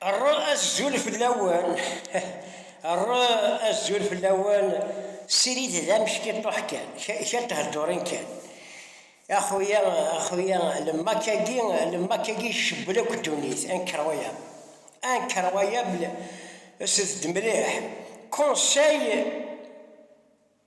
Rr azul fell-awen, rr azul fell-awen, ssirid d ameckiṭuḥ kan, kra n theddurin kan, axuya, axuya, lemmak-agi, lemmak-agi icebbel akk ddunit, incroyable, incroyable, slet-d mliḥ, conseil,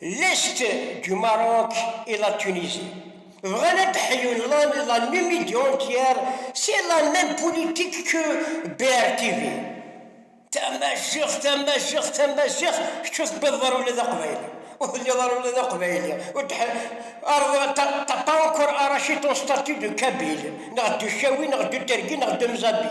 L'est du Maroc et la Tunisie. Bɣan ad d-ḥyun la, la même idée entière, c'est la même politique que BRTV. Tamaziɣt, tamaziɣt, tamaziɣt, kečč ur tewwiḍeḍ ara ula d aqbayli. Ur telliḍ ara ula d aqbayli. Ur d t'as pas encore arraché ton statut de kabyle, neɣ de chaoui, neɣ de terki, neɣ de mzabi.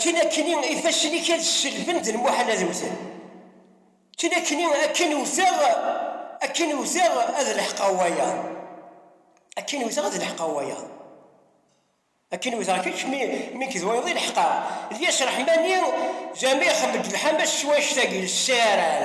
Tinakkni ifassen-ik ad selben d lmuḥal ad wten. Tinakkni akken wteɣ, akken wteɣ ad leḥqeɣ wayeḍ. Akken wteɣ ad leḥqeɣ wayeḍ. Akken wteɣ kečč mi, mi k d wayeḍ i leḥqeɣ. Lyas Reḥmani, Jamiɛ ixemmem-d lḥamas s wanect-agi, lessaran.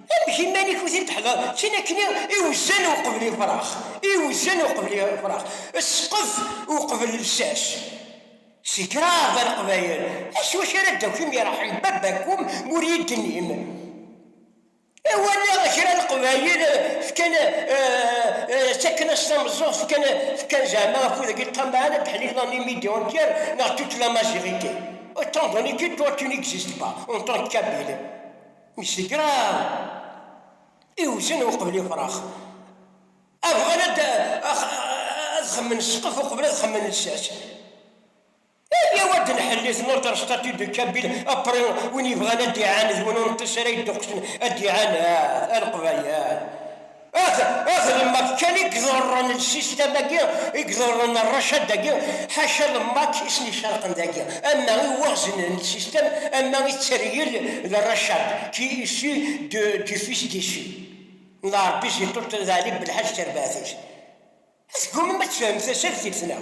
Amek iman-ik ur t-in-teḥḍareḍ? Tin akken iwzan uqbel ifrax, iwzan uqbel ifrax, ssqef uqbel lsas. Si kraḍ a Leqbayel, s wacu ara d-takim irḥel baba-kum ma ur yi-d-tennim? Walaɣ kra n Leqbayel fkan, ttaken-as tameẓẓuɣt, fkan, fkan zeɛma afud-agi ṭṭamaɛen ad d-ḥlil l'année midi entière neɣ toute la majorité. Autant donner que toi tu n'existes pas, en tant que Kabyle. Msekra iwzan uqbel ifrax. A bɣan ad xemmen ssqef uqbel ad xemmen lsas. Ayaw ad nḥelli tnurter statut de Kabyle après win yebɣan ad d-iɛaned win ur nṭis ara yedduqsen ad d-iɛaned a leqbayel. Ad lemmer kan i iḍerren lsistam-agi, i iḍerren rracad-agi, ḥaca lemmak i sen-icerqen dagi, ama i waɣzen n lsistam, ama i tteryel d rracad, qui issu de du fils d'Issu n Rebbi si ṭṭult n Ɛli Belḥaǧ tarbaɛt-is. Tgumam ad tefhem tasertit, neɣ?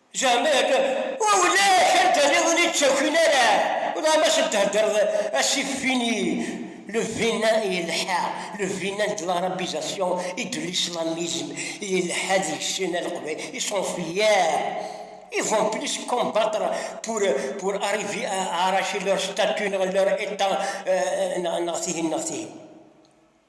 Zeɛma yakan ulac anda niḍen i ttakin ara? Welleh ma s d-theddreḍ asif fini, le vina yelḥa, le vina de l'arabisation et de l'islamisme yelḥa deg-sen a leqbayel, ils sont fiers, ils vont plus combattre pour pour arriver à arracher leur statut neɣ leur état neɣ tihin neɣ tihin.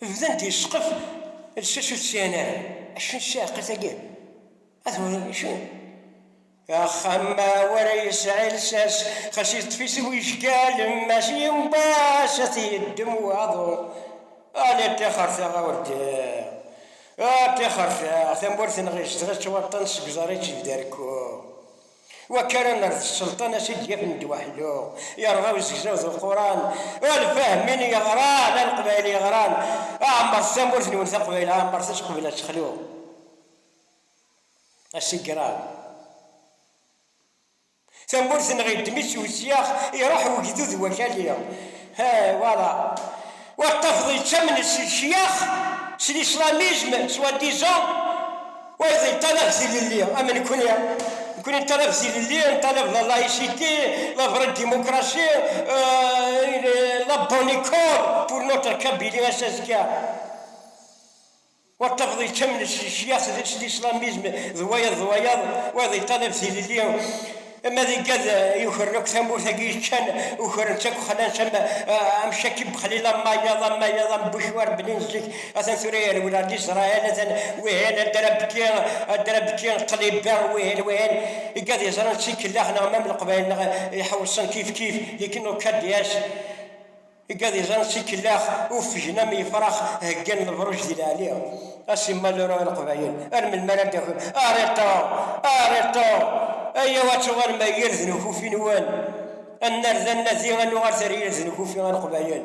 Bdan-d yesqef lsas ur t-sɛin ara. Acu n ssiɛqa-tagi? A tewriḍ acu? Axxam ma ur yesɛi lsas, xas yeṭṭef-it wejgal, mass yiwen wass a t-yeddem waḍu. Ala ṭṭixer-taɣ a urdiɣ, a ṭṭixer-taɣ, tamurt-nneɣ izedɣ-itt waṭṭan seg uẓar i tt-id-berkuɣ. Wakk ara nerr d sselṭan a s-id-yafen ddwa aḥellu, yerɣa uzegzaw d uquran, a lfahmin yeɣran, a leqbayel yeɣran, ɛemmret tamurt-nwen taqbayl, ɛemmret-as qbel ad texlu asigraw. Tamurt-nneɣ iddem-itt usyax, iruḥ wegdud wakali. He, wala. Ur tafeḍ yettamen s ccyax, s l'islamizm, soi-disant, wayeḍ yeṭṭalab tilelli am nekkni. Nekkni neṭṭalab tilelli, neṭṭalab la laïcité, la vraie démocratie, la bonne école pour notre Kabylie ass azekka. Wayeḍ tafeḍ yekkamen s ccyaṭ s lislamizm d wayeḍ d wayeḍ, wayeḍ yeṭṭalab tilelli, ma d igad yukren akk tamurt agi yeččan, ukren-tt akk, xlan-tt am am Cakib Bexlil, am wayeḍ, am wayeḍ, am Bucwar Belin zik, atan tura yerwel ar Lizrayel, atan wihin ad d-rabki, ad d-rabki qliba, wihin, wihin, igad yeẓran d tikellax neɣ ma am Leqbayel neɣ iḥewṣen kif kif, dik nukka-d yas. Igadizen s ikellax uffgen am yefrax heggan lebruj di leɛli a simmal lero i leqbayel ar melmi ara d-takim ariṭa ariṭa ayaw ad tuɣalem ar yird n ukufi nwen ad narda nadi ad nuɣal ar yird n ukufi a leqbayel.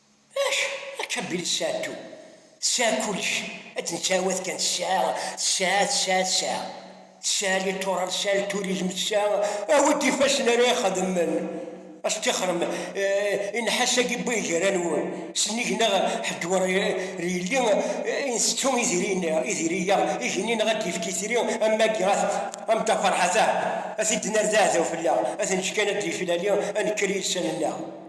Acu akka belli tesɛa tu, tesɛa kulec, ad d-nettɛawad kan tesɛa, tesɛa, tesɛa, tesɛa. Tesɛa littoral, tesɛa lturizm, tesɛa a wi d-ifassen ara ixedmen. A s-tixrem i nnḥas-agi n way gar-anwen, sennig neɣ ḥedd ur yelli i ntettu idiri-a, igenni neɣ ad d-yefk itri am wagi a Mda Ferḥat-a, a t-id-nerr d aɛdaw fell-aɣ, a t-neǧǧ kan ad d-yeflali, a nekker i yisan-nneɣ.